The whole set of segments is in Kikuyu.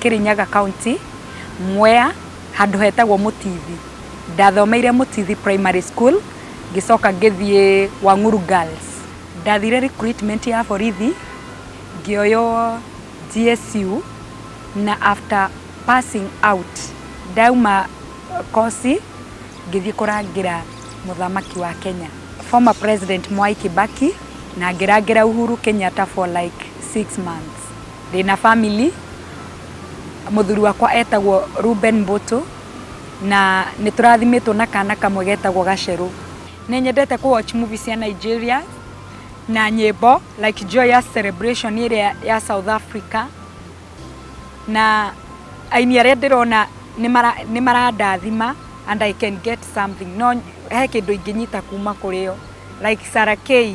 Kĩrĩnyaga county, Mwea, handũ hetagwo Mũtithi. Ndathomeire Mũtithi primary school, ngĩcoka ngĩthiĩ Wang'uru Girls. Ndathire recruitment ya borithi, ngĩoywo GSU, na after passing out, ndauma koci, ngĩthiĩ kũrangĩra mũthamaki wa Kenya, former president Mwai Kĩbakĩ, na ngĩrangĩra Uhuru Kenyatta for like six months. Ndĩna family, mũthuri wakwa etagwo Reuben Mbũtũ, na nĩ tũrathimĩtwo na kana kamwe getagwo Gacerũ. Nĩ nyendete kũ watch movie cia Nigeria na nyĩmbo like Joyous Celebration ĩrĩa ya South Africa, na aini arĩa ndĩrona nĩ marandathima and I can get something, no he kĩndũ ingĩnyita kuma kũrĩ o like Sarah Kay.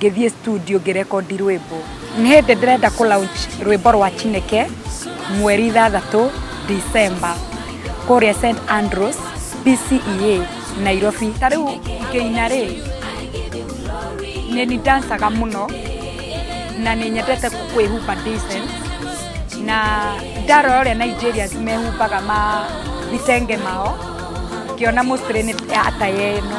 ngĩthiĩ studio ngĩrekondi rwĩmbo nĩ hĩndĩ ndĩrenda kũ launch rwĩmbo rwa chineke mweri ithathatũ december kũrĩa st andrews bcea nairobi ta rĩu ngĩina rĩ nĩ ndancaga mũno na nĩ nyendete kwĩhumba decent na ndarora ũrĩa nigerians mehumbaga ma vitenge mao ngĩona mũcirĩ nĩ ataya ĩno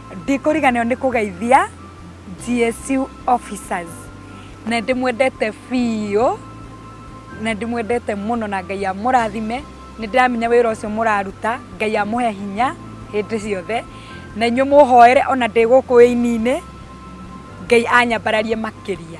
Ndikũriganĩrwo nĩ kũgeithia GSU officers na ndĩmwendete biũ na ndĩmwendete mũno na Ngai amũrathime. Nĩ ndĩramenya wĩra ũcio mũraruta Ngai amũhe hinya hĩndĩ ciothe na inyuĩ mũhoere ona ndĩ gũkũ wĩini-inĩ Ngai anyambararie makĩria.